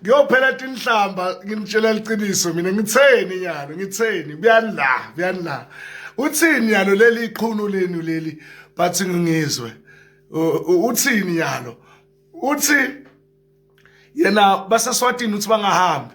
kuyophela tinhlamba nginitshela liqiniso mina ngitheni nyalo ngitheni buyani la buyani la uthini nyalo leli iqhunu lenu leli bathi ngingizwe uthini nyalo uthi yena baseswatini uthi bangahambi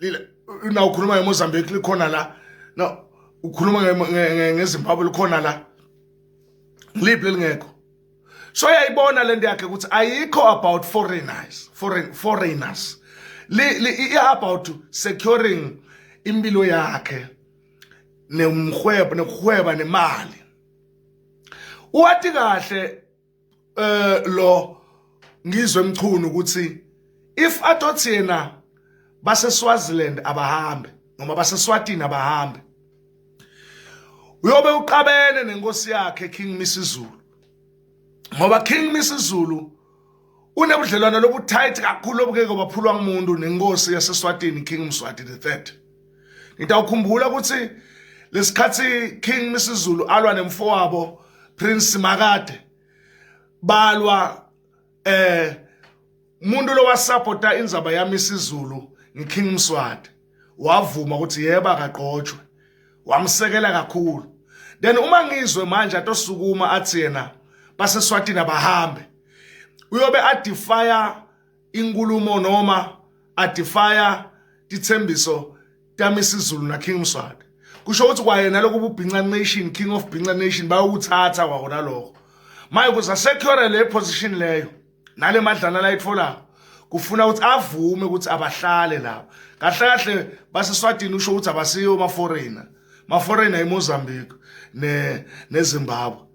lile na ukhuluma ngemozambique likhona la na ukhuluma ngezimbabwe likhona la ngiliphi lelingekho so yayibona lento yakhe ukuthi ayikho about foreigners foreign foreigners li about securing impilo yakhe nemhwebo nekuhweba nemali uwati kahle eh lo ngizwe emchunu ukuthi if atothi yena base Swaziland abahambe noma base Swatini abahambe uyobe uqabene nenkosi yakhe King Misizulu ngoba King Misizulu unebudlelwane lobuthight kakhulu obukeke baphulwa umuntu nenkosi yaseSwatini King Mswati the 3 Ngitawukhumbula ukuthi lesikhathi King Misizulu alwa nemfowabo Prince Makade balwa eh umuntu lo wasupporta inzaba yami isizulu ngiKing Mswati wavuma ukuthi yeba kaqotshwe wamsekela kakhulu then uma ngizwe manje atosukuma athi yena baseswatini abahambe uyobe adefire inkulumo noma adifaya tithembiso tamisizulu na king mswati kusho ukuthi kwayena lokhu bubhinca nation king of bhinca nation bayowuthatha kwahona lokho maye kuza secure le position leyo nale madlana la itfolako kufuna ukuthi avume ukuthi abahlale lapha kahle kahle baseswatini usho ukuthi abasiyo ma-foreigner ma-foreigner imozambique nezimbabwe ne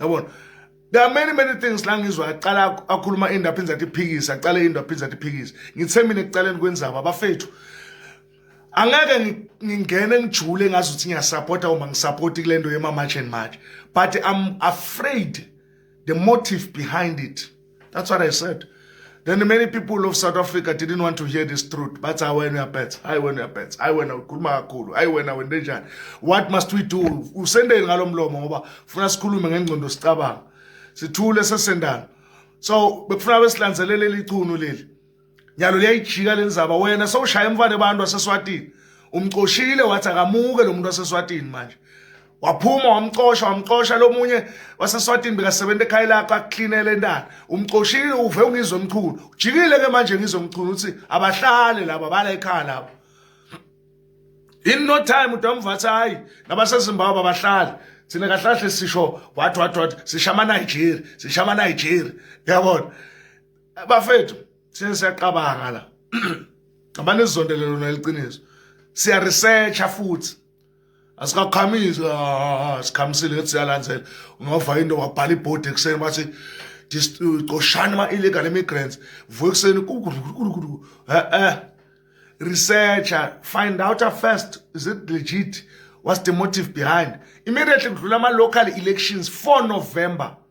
yabona there are many many things la ngizwa aqala akhuluma into aphinde athi phikisa aqale into aphinde athi phikisa ngithe mina ekuqaleni kwenzaba abafethu angeke ngingene ngijule ngazi ukuthi ngiyasupporta uma ngisupporti kule nto yema-march and march but i'm afraid the motive behind it That's what I said. Then many people of South Africa didn't want to hear this truth. But I went up at, I went up at, I went up kumakulu, I went up ndenjani. What must we do? Usendeni ngalomlomo ngoba funa sikhulume ngengcondo sicabanga. Sithule sesendana. So bekufuna besilanzelele leli chunu leli. nyalo liyayijika lenzaba wena sowushaya emfane abantu waseswatini umcoshile wathi akamuke lo muntu waseswatini manje waphuma wamcosha wamcosha lomunye waseswatini bekasebenza ekhaya lakho akuklinele ntana umcoshile uve ungizwe mkhulu ujikile ke manje ngizwe mkhulu uthi abahlale laba bala ekhaya labo in no time utamvathi hayi nabasezimbabwe abahlali thina kahlahle sisho what what what sishama Nigeria sishama Nigeria yabona bafethu sesiyaqabanga la abantu esizondele lona liqiniso siya researcha futhi asikakhamisi ah, ah, ah, sikhamisile ethi siyalandzela ungava into wabhala ibhodi ekuseni bathi coshani ama-illegal immigrants vuka ekuseni e-e researcher find out first is it legit what's the motive behind immediately kudlula ama-local elections 4 november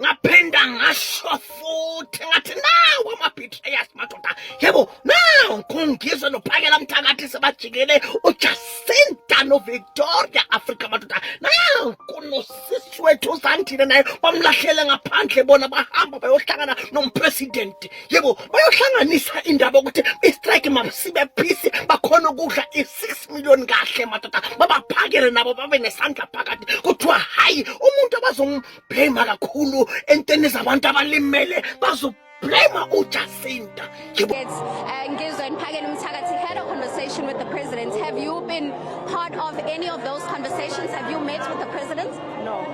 ngaphinda ngasho futhi ngathi nawo ama-betrayers madoda yebo nawo ngikhungizwe nophakela mthakathi sebajikele ujacinta novictoria afrika madoda nawo kunosisi wethu usandile naye bamlahlele ngaphandle bona bahamba bayohlangana nompresidenti yebo bayohlanganisa indaba yokuthi istrike masibe phisi bakhona ukudla i-six million kahle madoda babaphakele nabo babe nesandla phakathi kuthiwa hhayi umuntu abazom bazoblema kakhulu entweni zabantu abalimele bazoblema ujacinta yebo uh, ngizwe niphakele umthakathi had a conversation with the president have you been part of any of those conversations have you met with the president no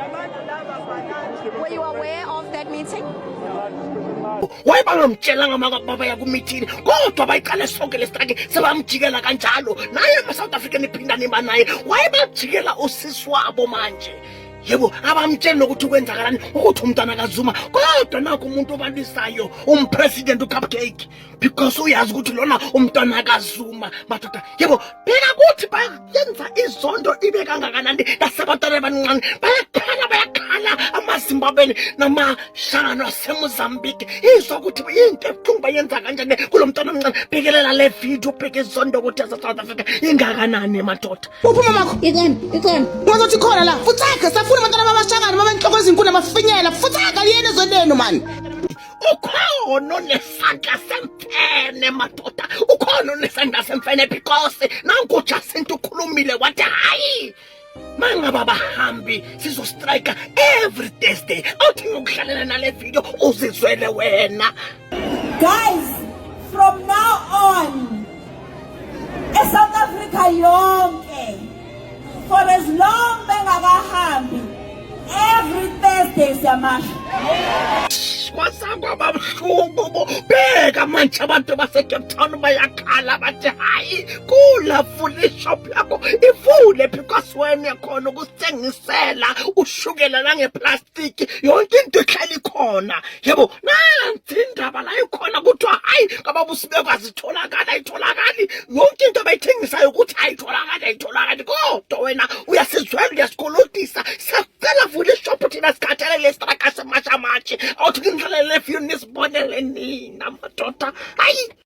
were you aware of that meeting wayebangamtshelanga makababa yakumithini kodwa bayiqale sonke lesitaki sebamjikela kanjalo naye ama-south african iphindane iba naye wayebajikela usisi wabo manje yebo abamtsheli nokuthi kwenzakalani ukuthi umntana kazuma kodwa nakho umuntu obalisayo umpresident ucupcake because uyazi ukuthi lona umntwana kazuma madoda yebo phela kuthi bayenza izondo ibe kangakanani nasebantwana abancane bayakhala bayakhala amazimbabweni namashangano asemozambique izwa ukuthi into ebuhlungu bayenza kanjani kulo mntwana omncane bhekelela le video ubheke izondo ukuthi yasesouth africa ingakanani madoda Uphi mamakho? Ikhona, ikhona. Wazothi khona la. Futsaka, safuna abantwana babashakani, baba inhloko ezinkulu amafinyela. Futsaka yena ezonenu mani. Ukhona onesandla semfene madoda. Ukhona onesandla semfene because nanku Jacinta ukhulumile wathi hayi. Mangaba abahambi sizo strike every Thursday. Awuthi ngikuhlalela nale video uzizwele wena. Guys, from now on eSouth Africa yonke for as long bengakahambi every Thursday siyamasha kwasangwa babuhlungu beka manje abantu basecape town bayakhala bathi hayi kulafuna ishop yakho ivule phi kwasiwena yakhona ukusithengisela ushukela nangeplastic plastic yonke into ehlala ikhona yebo nansi indaba la ikhona kuthiwa hayi kababa usibekwazi itholakala ayitholakali yonke into abayithengisayo ukuthi ayitholakali ayitholakali kodwa wena uyasizwela uyasikolotisa siyacela vula ishophu thina sikhathele lesitraka semashamatshi awuthi kindlalele efyuni nisibonele nina madoda hayi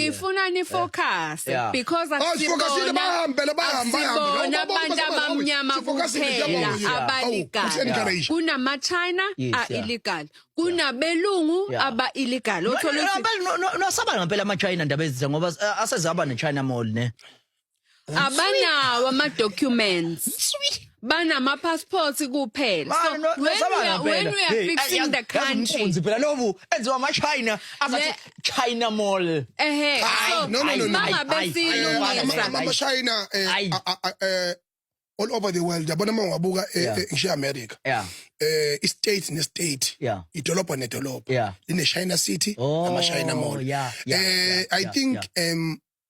Ngifuna ni focus Yeah. because Oh, sifokasile bahambele bahambe bahambe. akusibona Awubaboni abantu basema, "Hawu, abamnyama sifokasile, kuphela siyabonga." Awu, abalegal kusencourage. kunama-china Yes, yeah. a-illegal kunabelungu Yeah. aba-illegal othola ukuthi nosaba ngampela amachina ndaba ezize ngoba eh, asezaba nechina mall ne abanawo ama documents banama passports kuphela Ba- so no- when we nosabana are, when phela. we are Hey, fixing Yazi- the yazi country umfunzi phela lobu enziwa amachina azathi Le- china mall ehe Hayi, so no, no, no, no. mangabe Hayi, hayi, hayi, hayi, hayi, silungisa hayi. amashayina Ayi. eh, all over the world yabona uma ngiwabuka eh, Yeah. eh, ngishiya america yeah eh istate nestate Yeah. idolobha nedolobha Yeah. line china city Oh, amashayina mall yeah, yeah, eh yeah, i yeah, think yeah. um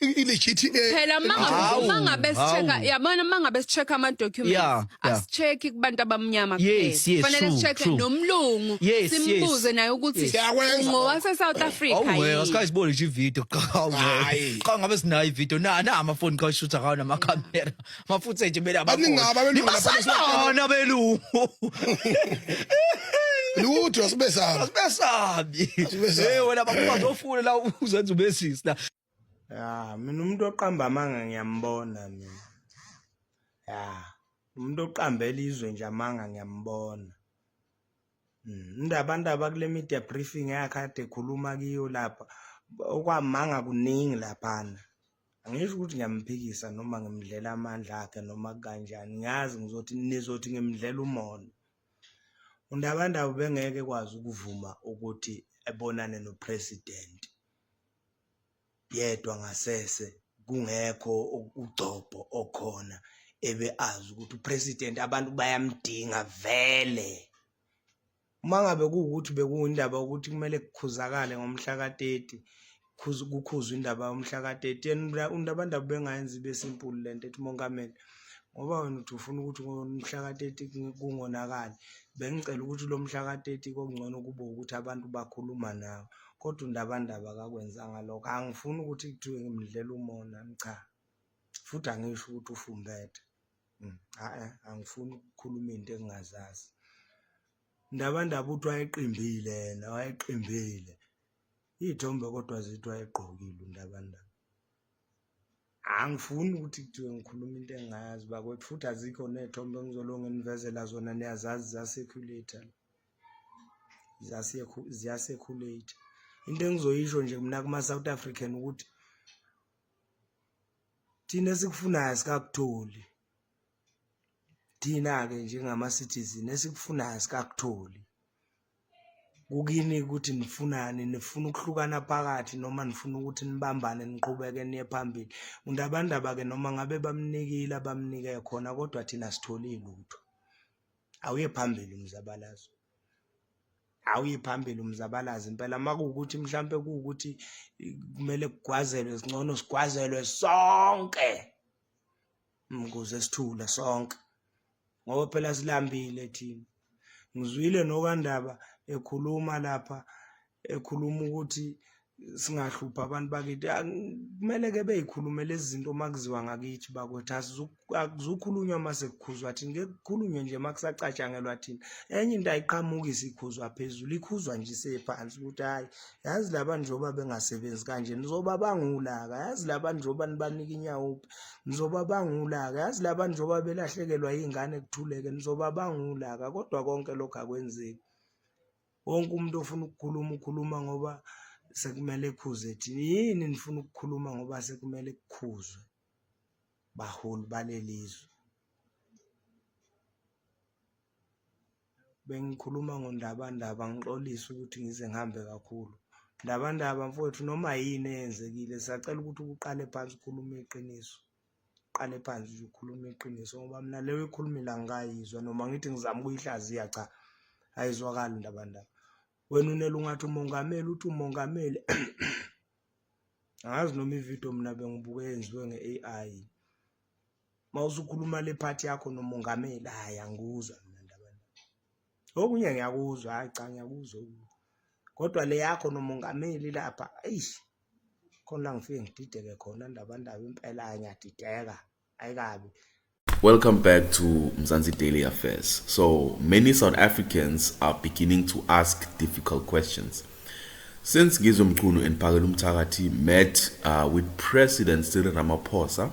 i- i-legit eh, phela ma ngabe- Hawu, ma ngabe sicheka hawu. yabona ma ngabe sicheka ama documents Yeah, yeah. asicheki kubantu abamnyama Yes, yes, fanele true, sicheke true. nomlungu Yes, simbuze yes. naye ukuthi Yes. Siyakwenza. ngowase South Africa Awuwe yini? asikayiboni nje ivideo cha awuwe Hhayi. cha ngabe sinayo ivideo na na amafoni ka shoot akawo nama camera mafuthe nje bela Baningi ngabo abelungu lapha basana belungu lutho asibesaba besabi Asibesabi. hey wena bakwazi ofuna la uzenza ubesisi la ya mina umuntu oqamba amanga ngiyambona mina ya umuntu oqambela izwe nje amanga ngiyambona hmm, into abantu abakule media briefing yakhe ade ekhuluma kiyo lapha okwamanga kuningi laphana angisho ukuthi ngiyamphikisa noma ngimdlela amandla akhe noma kanjani ngiyazi ngizothi nizothi ngimdlela umona undabandaba bengeke kwazi ukuvuma ukuthi ebonane nopresident yedwa ngasese kungekho ugcobho okhona ebe azi ukuthi upresident abantu bayamdinga vele uma ngabe kuwukuthi bekuwindaba ukuthi kumele kukhuzakale ngomhla ka-30 kukhuzwa indaba yomhla ka-30 yena undabandaba bengayenzi ibe simple le nto ethi umongameli ngoba wena uthi ufuna ukuthi ngomhla ka-30 kungonakali bengicela ukuthi lo mhla ka-30 kokungcono kube ukuthi abantu bakhuluma nawe kodwa undabandaba akakwenzanga lokho angifuni ukuthi kuthiwe ngimdlela umona cha futhi angisho ukuthi ufumbethe mm, a-e angifuni ukukhuluma into engingazazi ndabandaba uthi wayeqimbile yena wayeqimbile iy'thombe kodwa zithi wayegqokile undabandaba angifuni ukuthi kuthiwe ngikhuluma into engayazi bakwethu futhi azikho ney'thombe engizolonge nivezela zona niyazazi za-circulator ziyasekhulate into engizoyisho nje mina kuma-south african ukuthi thina esikufunayo sikakutholi thina-ke njengama-citizen esikufunayo sikakutholi kukini ukuthi nifunani nifuna ukuhlukana phakathi noma nifuna ukuthi nibambane niqhubeke niye phambili umuntu abandaba-ke noma ngabe bamnikile abamnike khona kodwa thina sitholi lutho awuye phambili umzabalazo awuye phambili umzabalazo impela uma kuwukuthi mhlawumpe kuwukuthi kumele kugwazelwe singcono sigwazelwe sonke ukuze sithule sonke ngoba phela silambile thina ngizwile nokandaba ekhuluma lapha ekhuluma ukuthi singahlupha abantu bakithi kumele ke beyikhulume lezi zinto uma kuziwa ngakithi bakwethu akuzukhulunywa uma sekukhuzwa thina ke kukhulunywe nje uma kusacatshangelwa thina enye into ayiqhamukisi ikhuzwa phezulu ikhuzwa nje isephansi ukuthi hhayi yazi laba njengoba bengasebenzi kanje nizoba bangulaka yazi laba njengoba nibanika inyawuphi nizoba bangulaka yazi laba njengoba belahlekelwa iy'ngane kuthuleke nizoba bangulaka kodwa konke lokhu akwenzeki wonke umuntu ofuna ukukhuluma ukhuluma ngoba sekumele ekhuze thina yini nifuna ukukhuluma ngoba sekumele kukhuzwe baholi balelizwe bengikhuluma ngondabandaba ngixolise ukuthi ngize ngihambe kakhulu ndabandaba mfowethu noma yini eyenzekile sacela ukuthi ukuqale phansi ukhulume iqiniso Qale phansi nje ukhuluma iqiniso ngoba mina leyo ekhulumile angikayizwa noma ngithi ngizama ukuyihlaziya cha ayizwakali ndaba ndaba wena unele ungathi umongameli uthi umongameli angazi noma ividiyo mina bengibuke yenziwe nge-AI mawusukhuluma le phathi yakho nomongameli hayi angikuzwa Okunye ngiyakuzwa hayi cha ngiyakuzwa kodwa le yakho nomongameli lapha eish khona ngifike ngidideke khona ndaba ndaba impela ngiyadideka ayikabi Welcome back to Mzansi Daily Affairs. So, many South Africans are beginning to ask difficult questions. Since Gizo Mchunu and Pagelu Mtakati met uh, with President Cyril Ramaphosa